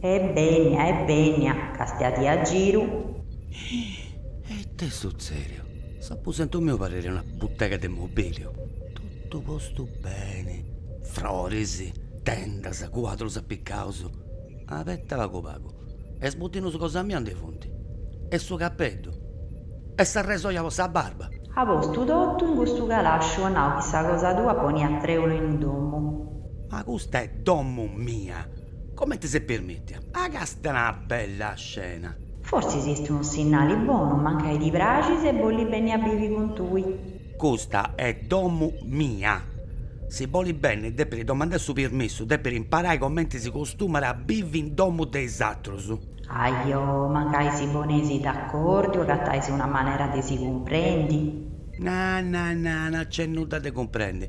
E benia, e benia, càstiadi a giru. E tesu sèriu, s'aposentu miu parrit una butega de mobiliu, totu postu beni, froris, tendas, cuadrus apicaus. Abetta pagu pagu, e is butinus cosa mia aundi funt, e su capeddu, e sa resoja po sa barba. At postu totu in custu calasciu at nau chi sa cosa tua poniat trèulu in domu. Ma custa est domu mia. Comente s'est permìtia? Ah, càstia una bella scena! Forsis est unu sinnali bonu, mancai ddi praxis e bolit benni a bivi cun tui. Custa est domu mia. Si bolit benni depit domandai su permissu, depit imparai comente si costumat a bivi in domu de is atrus. Ajo, mancai si poneis d'acordiu agatais una manera de si cumprendi. Na na na, no nc'est nudda de cumprendi.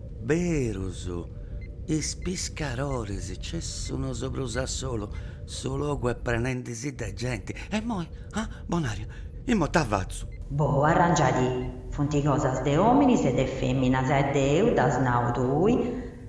Berus, is piscaroris cessu, no seu prus a solu, su logu est prenendisi de genti. E imoi? Ah, bon'aria, imoi ita fatzu? Boh, arrangiadi, funt cosas de ominis e de feminas e deu dd'as nau tui,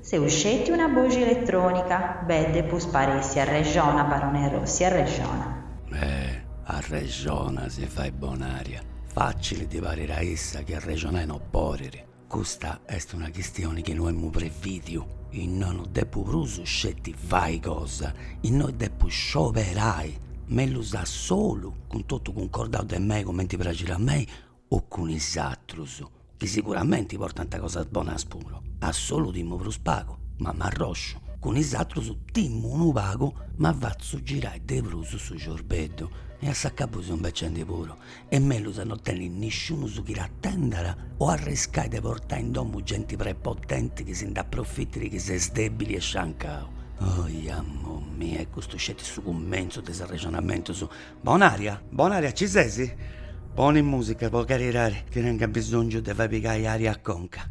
seu sceti una boxi elettronica, beh, depus paressi arrexona, barone Rossi, arrexona. Eh, arrexona si fait bon'aria, facili ddi parit a issa chi arrexonai no podit. Custa est una chistioni chi no emu previdiu, innoi no depu prus sceti fai cosa, innoi depu scioberai, mellus a solu, cun totu cuncordau de mei comenti praxit a mei o cun is atrus, chi siguramenti portant cosas bonas puru, a solu timu prus pagu, ma m'arrosciu, cun is atrus timu unu pagu, ma fatzu girai de prus su ciorbeddu e a s'acabu seu imbecendi puru est mellus no tenni nisciunus chi t'atendat o arriscai de portai in domu genti prepotenti chi si nd'aprofitit chi ses dèbili e sciancau. Oiamomia, e custu est sceti su cummentzu de is arrexonamentus. Bon'ària? Bon'ària ci ses? Poni mùsica po caridadi chi tèngiu bisòngiu de fai pigai ària a conca.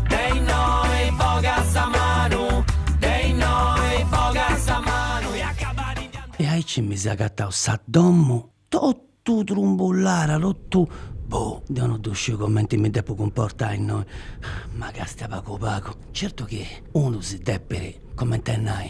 De innoi boga sa manu, de innoi boga sa manu e acaba di dia. E aici mi seu agatau sa domu totu trumbullada, totu boh, deu no ddu sciu comenti mi depu cumportai innoi, ma càstia pagu pagu, certu chi unu si depit Comente a nai,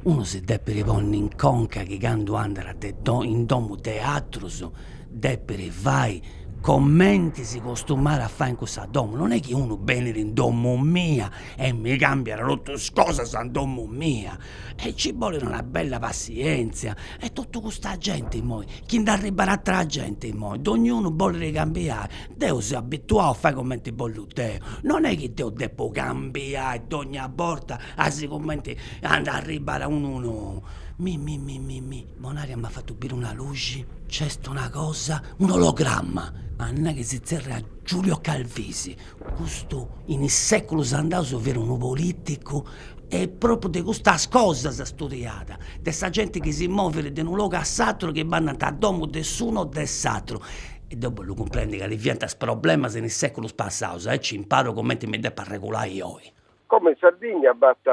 unu si depit ponni in conca chi candu andat de in domu de atrus depit fai comenti si costumat a fai in cussa domu, non est chi unu benit in domu mia e mi cambiat totu is cosas in domu mia, e ci bolit una bella passienzia e totu custa genti imoi chi nd'arribat atera genti imoi, dognunu bolit cambiai, Deu seu abituau a fai cumenti bollu deu, non est chi deu depu cambiai dogna borta a sicumenti at a arribbai unu nou, mi mi mi mi mi, Bonaria m'at fatu biri una luxi, nc'est una cosa, un'ologramma, at nau chi si zerriat Giulio Calvisi, custu in is seculus andaus fiat unu politicu e propriu de custas cosas studiat, de sa genti chi si movit de unu logu a s'aturu, chi bandant a domu de s'unu o de s'aturu E deu bollu cumprendi cali fiant is problemas in is seculus passaus aici imparu cumenti mi depu arregulai oi. Como in Sardigna b'at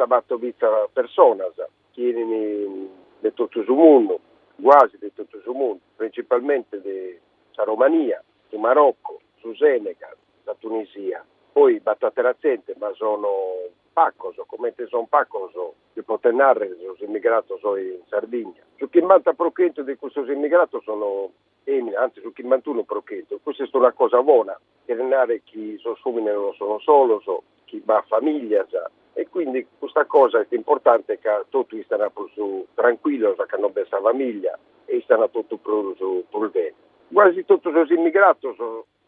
batomitza personas chi 'enint de totu su mundu, guasi de totu su mundu, principalmenti de sa Romania, su Maroccu, su Senegal, sa Tunisia, poi b'at atera zente ma sono pacos, comente sono pacos Si potet nàrrere sos immigratos oi in Sardigna. Su chimbanta pro chentu de custos immigratos sono fèminas, antzis su chimbantunu pro chentu. Custa est una cosa bona, cheret nàrrere chi sos òmines non sono solos, chi b'at famìlia e quindi custa cosa est importante ca totu istana prus trancuillos cando b'est sa famìlia e istana totu prus prus bene. Guasi totu sos immigratos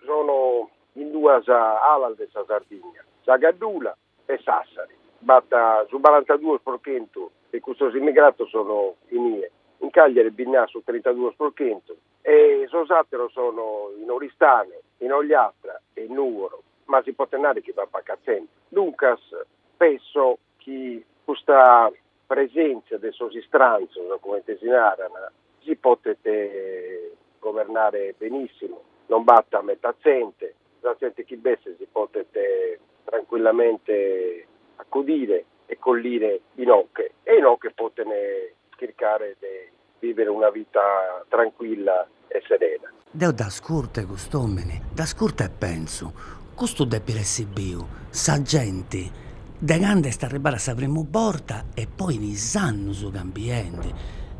sono in duas alas de sa Sardigna, sa caddula e Sassari, b'at su barantaduos pro chentu 'e custos immigratos sono inie, in Cagliari bi nd'at su trentaduos pro chentu e sos àteros sono in Oristano, in Ogliastra e in Nùgoro, ma si potet narrer chi b'at paca tzente. Duncas penso chi custa presèntzia de sos istrantzos, comente si naran, si potet governare benìssimu, non b'at meta tzente, sa tzente chi b'est si potet trancuillamente acudire e collire inoche e inoche poten chircare de vivere una vita tranquilla e serena. Deo dd'ascurtu a cust'omini, dd'ascurtu e pensu, custu depit essi biu sa genti de cando est arribada a sa primu borta e poi in is annus cambiendi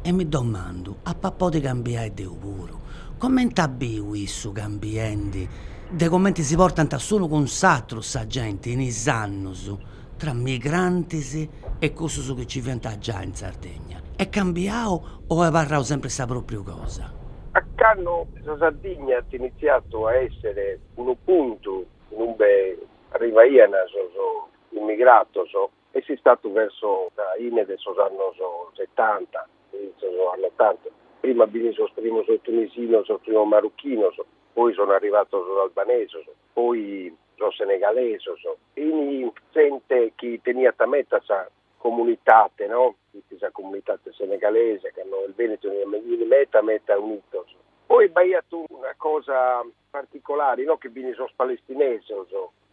e mi domandu ap'a podi cambiai deu puru, comente at biu issu cambiendi de comente si portant s'unu cun s'atru sa genti in is annus. tra migrantis e cussus chi nci fiant giai in Sardegna? Est cambiau o est abarrau sempri sa pròpriu cosa? A canno sa Sardigna at initziatu a èssere unu puntu in ube arrivaiant sos immigratos est istatu verso sa fine de sos annos setanta, inizios de sos annos ottanta. Prima bin sos primos tunisinos, sos primos marruchinos, poi sono arrivatos sos albanesos, poi sos senegalesos, E sa zente chi teniat meta sa comunitate, no? Fit sa comunitate senegalese, c'ano benidu in me, in meta meta unidos. Poi b'aiat una cosa particolari, no? Chi fin sos palestinesos,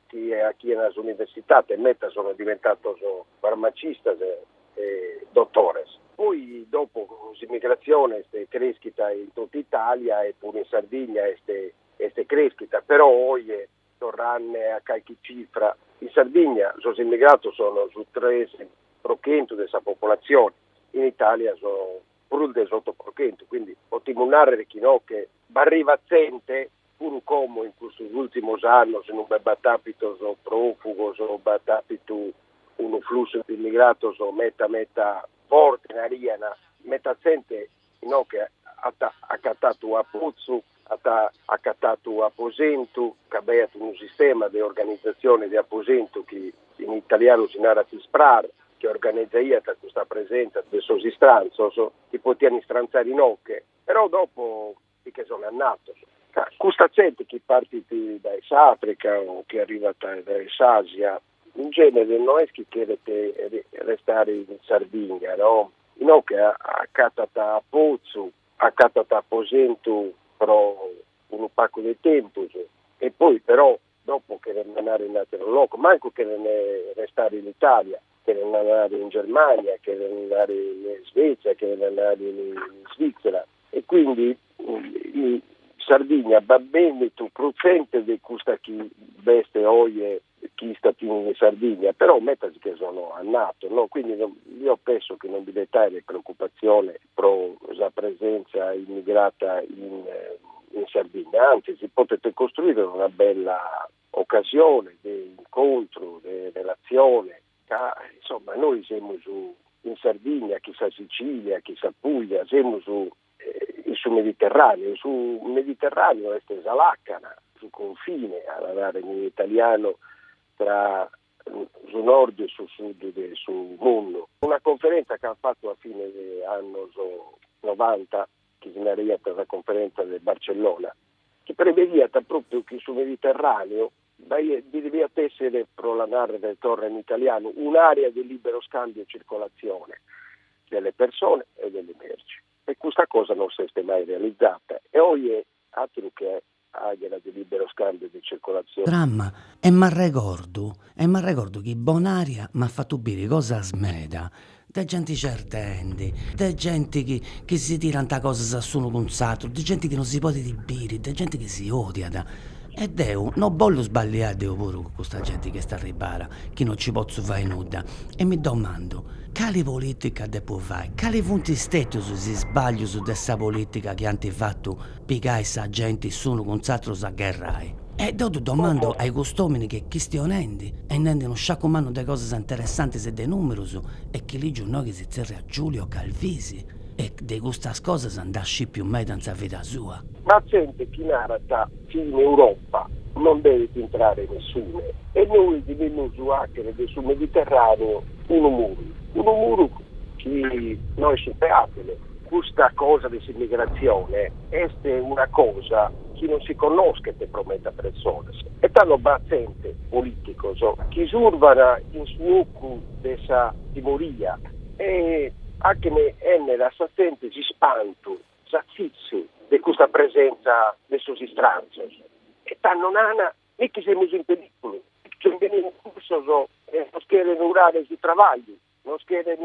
chi 'achian s'universitate, meta sono diventados farmacistas e e dotores. Poi dopo s'immigrazione est creschida in totu Italia e puru in Sardigna est est creschida, però oje Torrande a calchi cifra, in Sardigna sos immigratos sono su tres pro chentu de sa popolazione, in Italia sono prus de s'oto pro chentu, quindi potimus narrer chi no est chi b'arrivat zente, puru como in custos ultimos annos non b'e b'at apitos profugos, b'at apitu unu flussu de immigratos meta meta forte, narian, meta zente Inoghe at acatatu u' apotzu, at acatatu u' aposentu, ca b'aiat unu sistema de organizatzione de aposentu chi in italianu si narat SPRAR, chi organizaiat custa presenza de sos istrantzos chi potian istrantzare inoghe, però dopo si che son annatos. Custa zente chi partit dae s'Africa o chi arrivat dae s'Asia In genere no est chi cheret restare in Sardìnnia, no, inoghe acatat apotzu, acatat aposentu pro unu pagu de tempus e poi però dopo cherent andare in àteru logu, mancu cherent restare in Itàlia, cherent andare in Germànnia, cherent andare in Svètzia, cheret andare in Svìtzera. E quindi Sardìnnia b'at bènnitu prus zente de custa chi b'est oje chi istat in Sardigna, però metas si che sono annatos, no, quindi no, io penso chi non bi deet aere preoccupatzione pro sa presenza immigrata in in Sardigna, antzis si potet costruire una bella occasione de incontru, de relatzione, ca insomma nois semus in Sardigna, chi sa Sicilia, chi sa Puglia, semus in su Mediterraneo, su Mediterraneo est sa làcana, su confine, a narrer in italianu, tra su nord e su sud de su mundu. Una conferenza chi an fatu a fine de annos novanta, chi si naraiat sa conferenza de Barcellona, chi prevediat propriu chi su Mediterraneo deviat èssere, pro la nàrrere torra in italianu, un'àrea de lìbero scàmbiu e circolatzione de le persone e de le merci. E custa cosa non s'est mai realizata. E oje, àteru che àrea de lìbero scàmbiu e de circolatzione. Drama, e m'arregordu, e m'arregordu chi Bonaria m'at fatu biri cosas meda, de genti certendi, de genti chi chi si tirant cosas a s'unu cun s'atteru, de genti chi non si podit biri, de genti chi si odiat e deu non bollu sballiai deu puru cun custa genti chi est arribbada, chi non ci potzu fai nudda e mi domandu, cali politica depu fai, cali funt stetus is sbaglius de sa politica chi ant fatu pigai sa genti s'unu cun s'aterus a gherrai. E deu ddu domando ai cust'omini che chistionendi est nendi unu sciacu mannu de cosas interessantis e de numerus e chi ligiu innoi chi si tzerriat Giulio Calvisi e de custas cosas nd'at scipiu meda in sa vida sua. B'at genti chi narat chi in Europa non devet intrare nessune e nois devimus acher de su Mediterraneo unu muru, unu muru chi no est superabile. Custa cosa de s'immigrazione est una cosa chi non si connoschet pro meda persones e tando b'at zente, polìticos, chi survan in su ocu de sa timoria e achen benner a sa zente s'ispantu, s'atzitzu de custa presentza de sos istranzos e tando nana, Miche semus in perìculu, miche nche benin cussos e nos cheren urare su trabagliu. Nos cheren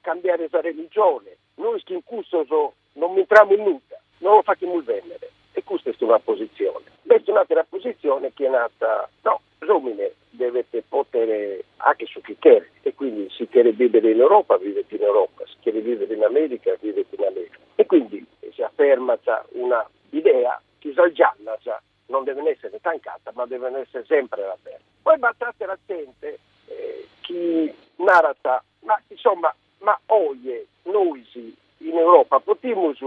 cambiare sa religione, nois chin cussos non b'intramus in nudda, no los fachimus bennere e custa est una posizione. B'est un'atera posizione chi narat, no, s'omine devet potere hacher su chi cheret e quindi si cheret vivere in Europa vivet in Europa, si cheret vivere in America vivet in America e quindi si affermat una idea chi sas giannas Non devent èssere tancadas, ma devent èssere semper abertas. Poi b'at àtera zente chi narat, ma insomma, ma oje nois in Europa potimus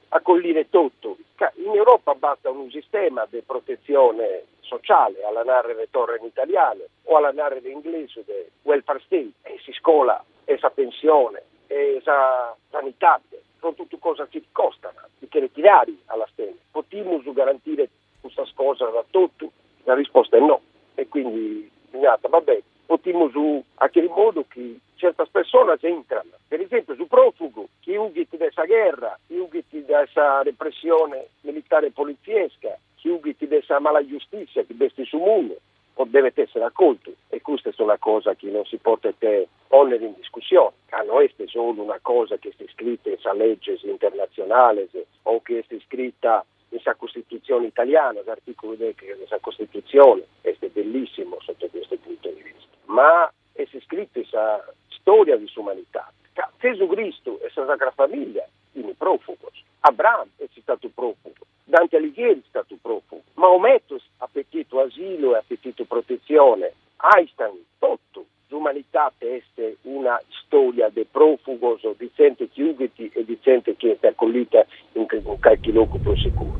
acollire totu, ca in Europa b'at unu sistema de protetzione sociale, a la nàrrere torra in italianu, o a la nàrrere in inglesu de welfare state, e s'iscola e sa pensione e sa sanitade. son totu cosas chi costan, chi cheret tirare a las penas, potimus garantire custas cosas a totu? Sa risposta est no, e quindi si narat, va bene, potimus achere in modu chi certas personas intran, per esempio su profugu chi ughit de sa gherra, chi ughit de sa repressione militare e poliziesca, chi ughit de sa mala giustizia chi b'est in su mundu, o devet esser acoltu e custa est una cosa chi non si potet ponner in discussione, ca no est solu una cosa chi est iscrita in sas leges internatzionales o chi est iscrita in sa Costitutzione italiana, s'artìculu deghe de sa Costitutzione est bellissimu sotto questo punto di vista, ma est iscrita in sa storia de s'umanitade, ca Zesu Cristu e sa Sacra Famiglia fin profugos, Abraham est istatu profugu. Dante Alighieri est statu pròfugu. Maometu at petitu asilu e at petitu protetzione. Einstein, totu l'umanitate est una istòria de pròfugos, de tzente chi ughit e de tzente chi est acollita in calchi logu prus seguru.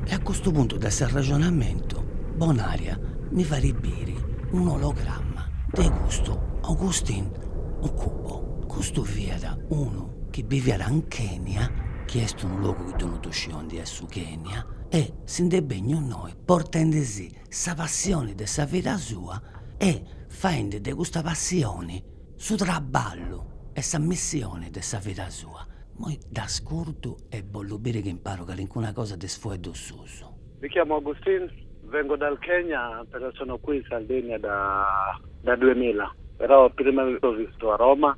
E a custu puntu de s'arrexonamentu, Bonària mi farit biri un'ologramma de custu Augustin Okubo. Custu fiat unu chi biviat in Kenia, chi est unu logu chi deu no ddu sciu andi est su Kenia, e si nd'est benniu innoi portendi si sa passioni de sa vida sua e faendi de custa passioni su traballu e sa missioni de sa vida sua. Moi dd'ascurtu e bollu biri chi imparu calincuna cosa de is fueddus suus. Mi chiamo Agustin, vengo dal Kenya però sono qui in Sardegna da da duemila però prima ho vissuto a Roma.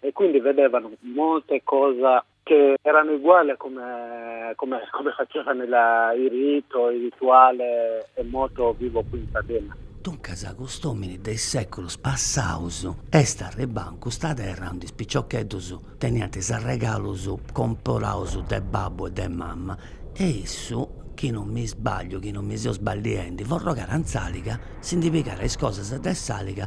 e quindi vedevano molte cose che erano uguali a come, come, come facevano la, i rito, i rituale è molto vivo qui in Sardegna. Duncas cust'omini de is sèculus passaus est arribbau in custa terra undi is piciocheddus teniant is arregalus comporaus de babbu e de mamma e issu, chi non mi sbagliu, chi non mi seu sballiendi, po arregalu in s'àliga, si ndi pigàrat is cosas de s'àliga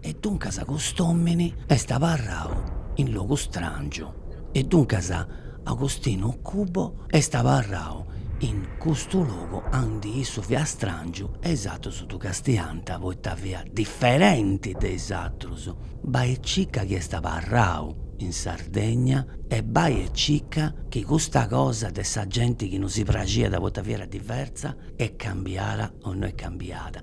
E duncas cust'omini est abarrau in logu strangiu. E duncas Agostinu Okubo est abarrau in custu logu andi issu fiat strangiu e is atrus ddu castiant poita fiat diferenti de is atrus. Bai e circa chi est abarrau in Sardegna e bai e circa chi custa cosa de sa genti chi no si praxiat poita fiat diversa est cambiada o no est cambiada.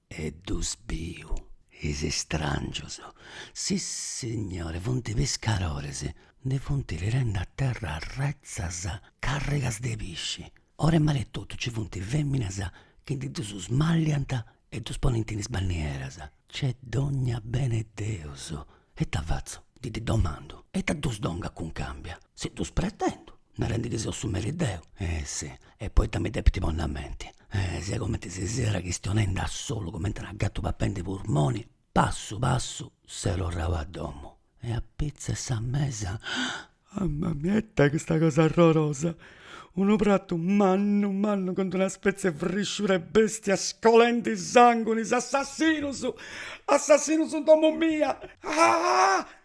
E ddus biu is istràngius, sissignore, funt piscarores, ndi funt tirende a terra retzas càrrigas de pisci. Or'e mare totu nci funt fèminas chi ndi ddus smalliant e ddus ponint in is bannieras. Nc'est dònnia bene 'e Deus! E ita fatzu? Ndi ddi domandu. E ita ddus donga cuncàmbia? Si ddus pretendu! Narendi chi seu su meri deu. Eh sì. E poita mi depint ponni a menti. E siat cumenti si siat chistionendi a solu cumenti una gatu papendi purmoni, passu passu seu torrau a domu e apitzu 'e sa mesa, mamma mia ita custa cosa arrorosa, unu pratu mannu mannu cun d'una spezie 'e frisciura 'e bestia scolendi sangunis, assassinus, assassinus in domu mia, ah ah ah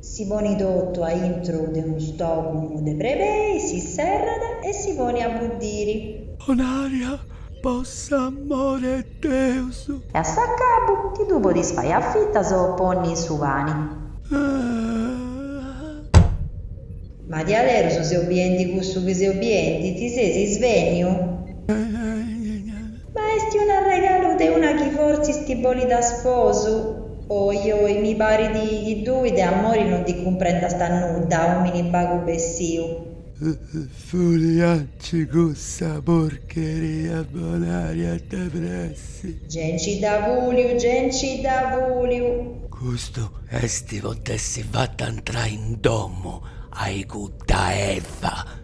Si ponit totu a intro de unu stòcumu de brebei, si serrat e si ponit a buddiri. Bonària, po s'amore 'e Deus! E a s'acabu, ti ddu podis fai a fitas o ponni in su pani. Ahh. Ma diaderus seu biendi cussu chi seu biendi, ti seis isvéniu? Ma est un'arregalu de una chi fortzis ti bolit a sposu? Oi oi, mi parit chi tui de amori non ti cumprendast nudda, òmini bagu bessiu. Fulianci cussa porcheria Bonària de pressi. Ge nci dda fùliu, ge nci dda fùliu. Custu est po t'essi fata antrai in domu a-i cudda Eva.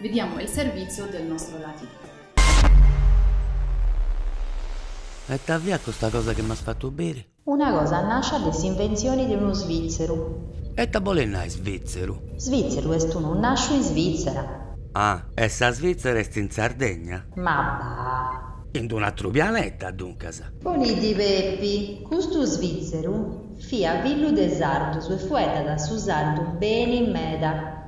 Vediamo il servizio del nostro latino. Ma ita fiat custa cosa chi m'as fatu biri? Una cosa nàscia de s'inventzioni de unu svìtzeru. E ita bolit nai svìtzeru? Svìtzeru est unu nàsciu in Svitzera. Ah, e sa Svitzera est in Sardegna? Ma bah! In unu atru pianeta, duncas. Poni ddi Pepi, custu svìtzeru fiat fillu de sardus e fueddàt su sardu beni meda.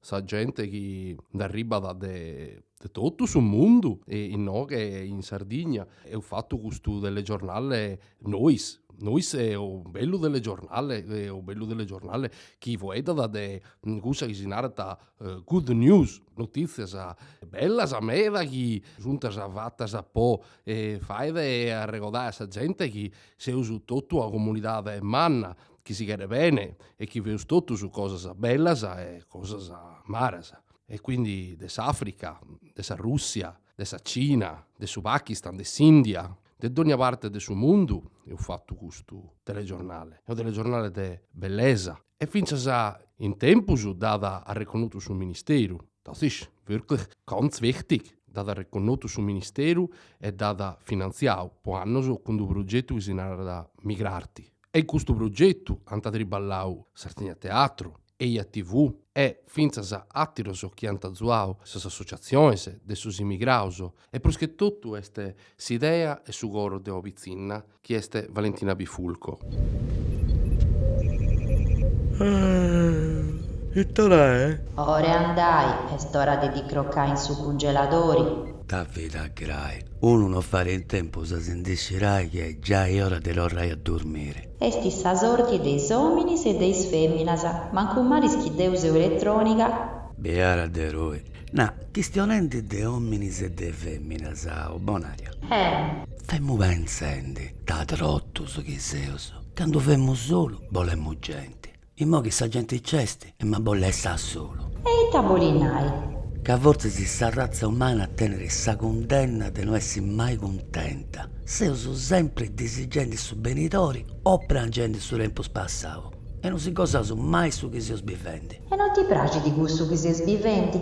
sa gente chi nd'arribbat de totu su mundu inoghe in Sardigna. Eus fatu custu telegiornale nois, nois, est unu bellu telegiornale, unu bellu telegiornale chi fueddat de cussa chi si narat good news, notìtzias bellas meda chi sunt fatas po fai arregodai a sa gente chi seus totu una comunidade manna chi si cheret bene e chi feus totus cosas bellas e cosas malas e quindi de s'Africa, de sa Russia, de sa Cina, de su Pakistan, de s'India, de dònnia parte de su mundu eus fatu custu telegiornale, est unu telegiornale de bellesa e fintzas in tempus dd'at arreconnotu su ministeru, das ist wirklich ganz wichtig, dd'at arreconnotu su ministeru e dd'at finantziau po annos cun d'unu progetu chi si narat Migrarti. e in custu progetu ant triballau Sardigna Teatru, Eia TV e fintzas àteros chi ant azuau sas associatziones de sos imigrados e prus che totu est s'idea e su coro de ua pitzinna chi est Valentina Bifulco. Ita ora est? Ora 'e andai, est ora de ti crocai in su cungeladori. Ta vida grai. Unu no farit in tempus a si ndi scirai chi est giai ora de torrai a durmiri. Est sa sorti de is ominis e de is feminas, mancu mali chi deu seu elettronica. Biada de tui. Na, chistionendi de ominis e de feminas, o Bonària. E. Femu penzendi, ta trotus chi seus. Candu femu solu, bolemu genti. Immoi chi sa genti c'est em'a bolli essi a solu. E ita boli nai? Ca fortzis sa ratza umana tenet sa cundenna de no essi mai cuntenta, seus sempri disigendi su benidori o prangendi su tempus passau e no si gosaus mai su chi seus bivendi. E no ti praxit cussu chi ses bivendi?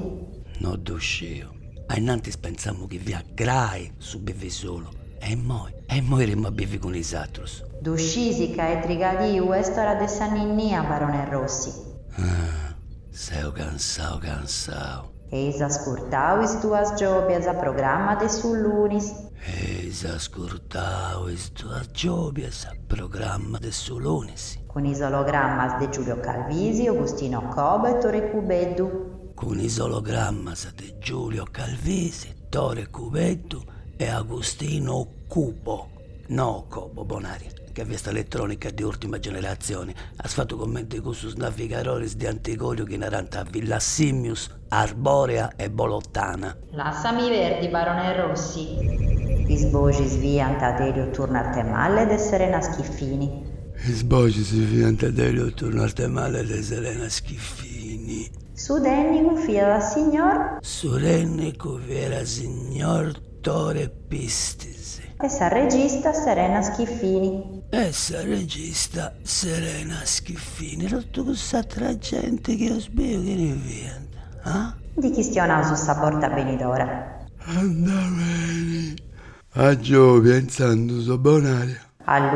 No ddu sciu. Ainnantis pentzàmu chi fiat grai su bivi solu, e immoi? E immoi timu a bivi cun is atrus. Ddu scisi ca est trigadiu est ora de sa ninnia, barone Rossi? Ah, seu cansau cansau. Eis ascurtau Is duas giòbias, programma de su lunis. Eis ascurtau Is duas giòbias, programma de su lunis. Cun is ologrammas de Giulio Calvisi, Agustino Cobo e Tore Cubeddu. cun is ologrammas de Giulio Calvisi, Tore Cubeddu e Agustino Cubo, no Cobo, Bonaria, chi fiast eletrònica de ùrtima generatzioni, as fatu cumenti cussus navigadoris de antigòriu chi narant Villasimius, Arbòrea e Bolotana. Lassami perdi barone Rossi. Is boxis fiant de Elio Turno Arthemalle e de Serena Schiffini. Is boxis fiant de Elio Turno Arthemalle e de Serena Schiffini. Su tènnicu fiat signor. Su tènnicu fiat signor Tore Pistis. E sa regista Serena Schiffini. E sa regista Serena Schiffini. Totu cuss'atra genti chi eus biu chini fiant? Ah? Ndi chistionaus sa borta benidora. Andat beni, a giòbia intzandus Bonaria. A.